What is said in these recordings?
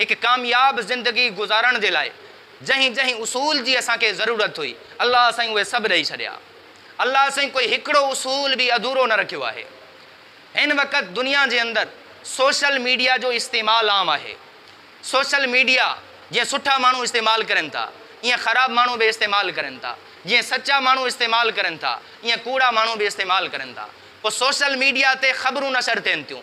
هڪ ڪامياب زندگي گذارڻ جي لاء جنهن جنهن اصول جي اسان کي ضرورت هئي الله سائين اهي سڀ ڏئي ڇڏيا الله سائين ڪوئي هڪڙو اصول به اڌورو نه رکيو آهي هن وقت دنيا جي اندر سوشل ميڊيا جو استعمال عام آهي سوشل ميڊيا جيئن سٺا ماڻهو استعمال ڪرن ٿا ايئن خراب ماڻهو به استعمال ڪرن ٿا جيئن سچا ماڻهو استعمال ڪرن ٿا ايئن ڪوڙا ماڻهو به استعمال ڪرن ٿا پوء سوشل ميڊيا تي خبرون نشر ٿين ٿيون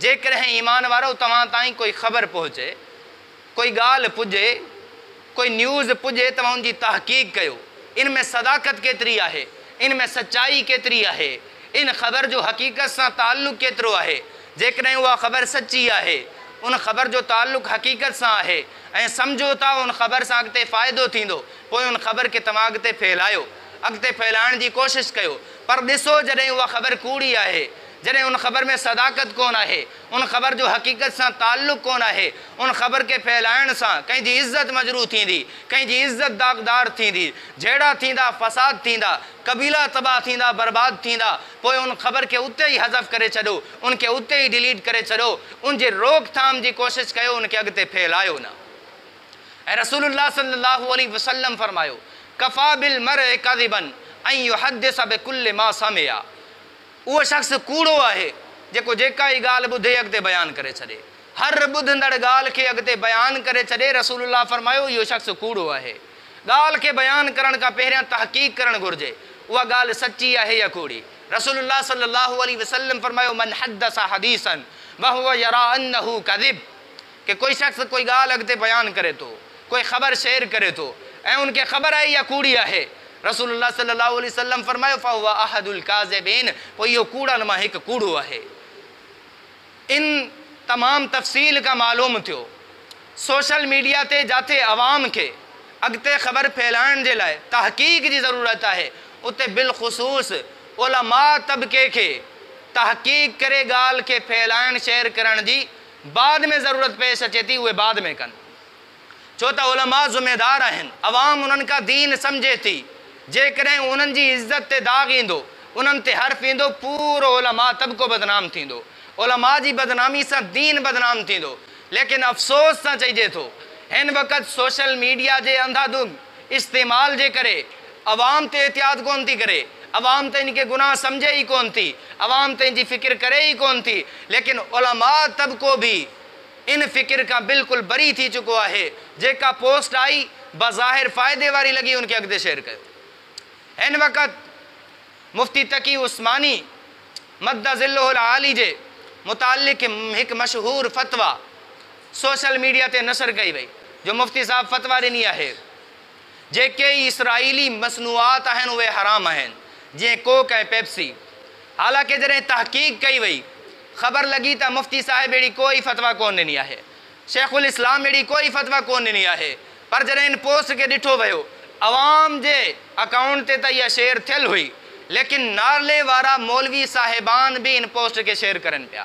جيڪڏهن ايمان وارؤ توهان تائين ڪوئي خبر پهچي، ڪوئي ڳالهه پڄي، ڪوئي نيوز پڄي ته ان جي تحقيق ڪيو. ان ۾ صداقت ڪيتري آهي؟ ان ۾ سچائي ڪيتري آهي؟ ان خبر جو حقيقت سان تعلق ڪيترو آهي؟ جيڪڏهن اها خبر سچي آهي، ان خبر جو تعلق حقيقت سان آهي ۽ سمجهو ٿا ان خبر سان اڳتي فائدو ٿيندو، پوء ان خبر کي توهان اڳتي ڦهلايو. اڳتي ڦهلائڻ جي ڪوشش ڪيو. پر ڏسو جڏهن اها خبر ڪوڙي آهي. جڏهن ان خبر ۾ صداقت ڪونه آهي، ان خبر جو حقيقت سان تعلق ڪونه آهي، ان خبر کي ڦهلائڻ سان ڪنهن جي عزت مجروح ٿيندي، ڪنهن جي عزت داغدار ٿيندي، جهيڙا ٿيندا، فساد ٿيندا، قبيلا تباهه ٿيندا، برباد ٿيندا، پوء ان خبر کي اتي ئي حذف ڪري ڇڏو، ان کي اتي ئي ڊيليٽ ڪري ڇڏو، ان جي روڪ ٿام جي ڪوشش ڪيو، ان کي اڳتي ڦهلايو نه. ۽ رسول الله صلي الله عليه وسلم فرمايو، ڪفيٰ بالمرء ڪذبا ان يحدث بڪل ما سمع. اهو شخص ڪوڙو آهي، جيڪو جيڪا ئي ڳالهه ٻڌي اڳتي بيان ڪري ڇڏي. هر ٻڌندڙ ڳالهه کي اڳتي بيان ڪري ڇڏي، رسول الله فرمايو، اهو شخص ڪوڙو آهي. ڳالهه کي بيان ڪرڻ کان پهريان تحقيق ڪرڻ گهرجي، اها ڳالهه سچي آهي يا ڪوڙي. رسول الله صلّي اللّٰه عليه وسلّم فرمايو، من حدّث حديثًا وهو يريٰ انّه ڪذب ڪي ڪوئي شخص ڪوئي ڳالهه اڳتي بيان ڪري ٿو، ڪوئي خبر شيئر ڪري ٿو ۽ ان کي خبر آهي اها ڪوڙي آهي. رسول الله صلي الله عليه وسلم فرمايو، فهو احد الڪاذبين پوء اهو ڪوڙن مان هڪ ڪوڙو آهي. ان تمام تفصيل کان معلوم ٿيو سوشل ميڊيا تي جاٿي عوام کي اڳتي خبر ڦهلائڻ جي لاء تحقيق جي ضرورت آهي اتي بالخصوص علماء طبقي کي تحقيق ڪري ڳالهه کي ڦهلائڻ شيئر ڪرڻ جي بعد ۾ ضرورت پيش اچي ٿي اهي بعد ۾ ڪن ڇو ته علماء ذميدار آهن عوام انهن کان دين سمجهي ٿي جيڪڏهن انهن جي عزت تي داغ ايندو انهن تي حرف ايندو پورو علماء طبقو بدنام ٿيندو علماء جي بدنامي سان دين بدنام ٿيندو ليڪن افسوس سان چئجي ٿو هن وقت سوشل ميڊيا جي انڌا ڌنڌ استعمال جي ڪري عوام تي احتياط ڪونه ٿي ڪري، عوام ته ان کي گناهه سمجهي ئي ڪونه ٿي، عوام ته ان جي فڪر ڪري ئي ڪونه ٿي، ليڪن علماء طبقو به ان فڪر کان بلڪل بري ٿي چڪو آهي، جيڪا پوسٽ آئي بظاهر فائدي واري لڳي ان کي اڳتي شيئر ڪيو. هن وقت مفتي تقي عثماني مد ظله العالي جي متعلق هڪ مشهور فتويٰ سوشل ميڊيا تي نشر ڪئي وئي جو مفتي صاحب فتويٰ ڏني آهي، جيڪي ئي اسرائيلي مصنوعات آهن اهي حرام آهن جيئن ڪوڪ ۽ پيپسي حالانڪه جڏهن تحقيق ڪئي وئي خبر لڳي ته مفتي صاحب اهڙي ڪو ئي فتويٰ ڪونه ڏني آهي شيخ الاسلام اهڙي ڪو ئي فتويٰ ڪونه ڏني آهي پر جڏهن ان پوسٽ کي ڏٺو ويو عوام جي اڪائونٽ تي ته اها شيئر ٿيل هئي ليڪن نارلي وارا مولوي صاحبان به ان پوسٽ کي شيئر ڪرن پيا.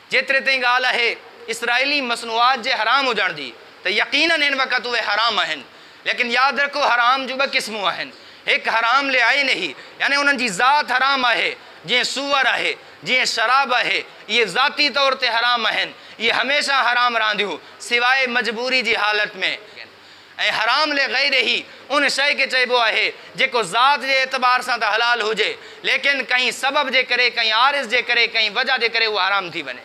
جيتري تائين ڳالهه آهي اسرائيلي مصنوعات جي حرام هجڻ جي ته يقينن هن وقت اهي حرام آهن ليڪن ياد رکو حرام جون ٻه قسمون آهن هڪ حرام لعينه يعني انهن جي ذات حرام آهي جيئن سوئر آهي جيئن شراب آهي اهي ذاتي طور تي حرام آهن اهي هميشه حرام رهنديون سواء مجبوري جي حالت ۾. ۽ حرام لغيره هي ان شيء کي چئبو آهي جيڪو ذات جي اعتبار سان ته حلال هجي ليڪن ڪنهن سبب جي ڪري ڪنهن عارض جي ڪري ڪنهن وجه جي ڪري اهو حرام ٿي وڃي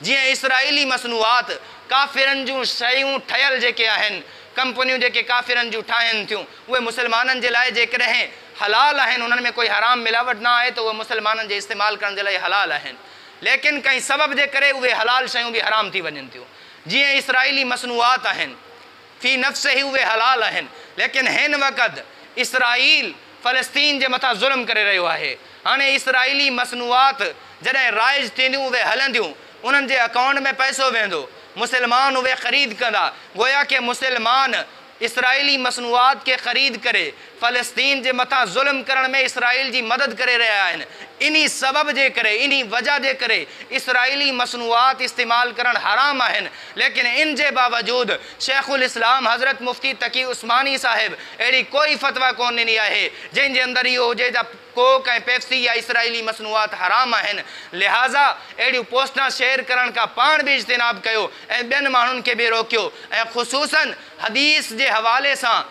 جيئن اسرائيلي مصنوعات ڪافرن جون شيون ٺهيل جيڪي آهن ڪمپنيون جيڪي ڪافرن جون ٺاهين ٿيون اهي مسلمانن جي لاء جيڪڏهن حلال آهن انهن ۾ ڪوئي حرام ملاوٽ نه آهي ته اهي مسلمانن جي استعمال ڪرڻ جي لاء حلال آهن ليڪن ڪنهن سبب جي ڪري اهي حلال شيون به حرام ٿي وڃن ٿيون. جيئن اسرائيلي مصنوعات آهن، في نفسه ئي اهي حلال آهن، ليڪن هن وقت اسرائيل فلسطين جي مٿان ظلم ڪري رهيو آهي. هاڻي اسرائيلي مصنوعات جڏهن رائج ٿينديون اهي هلنديون، انهن جي اڪائونٽ ۾ پئسو ويندو، مسلمان اهي خريد ڪندا، گويا ڪي مسلمان اسرائيلي مصنوعات کي خريد ڪري فلسطين جي مٿان ظلم ڪرڻ ۾ اسرائيل جي مدد ڪري رهيا آهن، انهي سبب جي ڪري، انهي وجه جي ڪري اسرائيلي مصنوعات استعمال ڪرڻ حرام آهن، ليڪن ان جي باوجود شيخ الاسلام حضرت مفتي تقي عثماني صاحب اهڙي ڪوئي فتويٰ ڪونه ڏني آهي جنهن جي اندر اهو هجي ته ڪوڪ ۽ پيپسي يا اسرائيلي مصنوعات حرام آهن، لهٰذا اهڙيون پوسٽان شيئر ڪرڻ کان پاڻ به اجتناب ڪيو ۽ ٻين ماڻهن کي به روڪيو ۽ خصوصاً حديث جي حوالي سان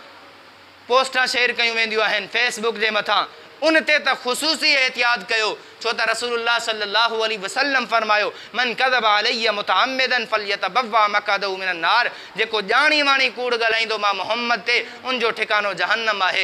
پوسٽان شيئر ڪيون وينديون آهن فيس بڪ جي مٿان ان تي ته خصوصي احتياط ڪيو ڇو ته رسول الله صلي الله عليه وسلم فرمايو، من ڪذب علي متعمدا فليتبوء مقعده من النار جيڪو ڄاڻي واڻي ڪوڙ ڳالهائيندو مان محمد تي ان جو ٺڪانو جهنم آهي.